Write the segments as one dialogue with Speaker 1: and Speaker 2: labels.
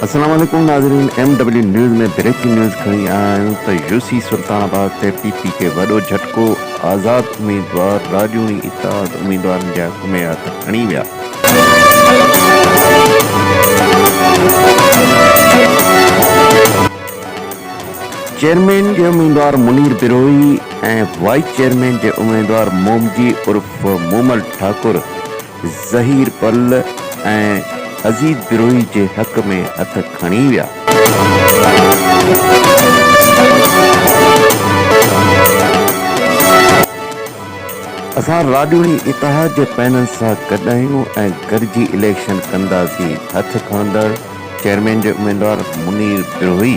Speaker 1: السلام عليڪم ناظرين M W news ۾ breaking news کڻي آيا آهيون ته يو سي سلطان آباد تي پي پي کي وڏو جهٽڪو آزاد اميدوار راڄوڻي اتحاد اميدوارن جا گهمي هٿ کڻي ويا. چيئرمين جي اميدوار منير بروهي ۽ وائيس چيئرمين جي اميدوار مومجي عرف مومل ٺاڪر ظهير پل ۽ عزيز بروهي جي حق ۾ هٿ کڻي ويا. اسان راڄوڻي اتحاد جي پنهن سان گڏ آهيون ۽ گڏجي اليڪشن ڪنداسين، هٿ کڻندڙ چيئرمين جي اميدوار منير بروهي.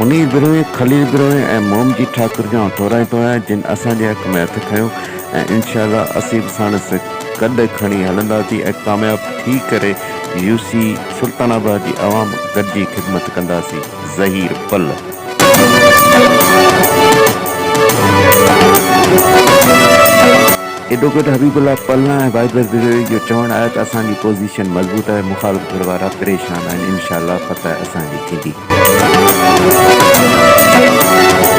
Speaker 1: منير بروهي، خليل بروهي ۽ مومجي ٺاڪر جون ٿورائي تو آهيان جن اسان جي حق ۾ هٿ کنيو ۽ انشاء الله اسين به ساڻس گڏ کڻي هلنداسين ۽ ڪامياب ٿي ڪري يو سي سلطان آباد جي عوام گڏجي خدمت ڪنداسين ظهير پل. ايڊووڪيٽ حبيب الله پلنا ۽ واحدبخش بجويء جو چوڻ آهي ته اسان جي پوزيشن مضبوط آهي، مخالف ڌر وارا پريشان آهن، انشاء الله فتح اسان جي ٿيندي.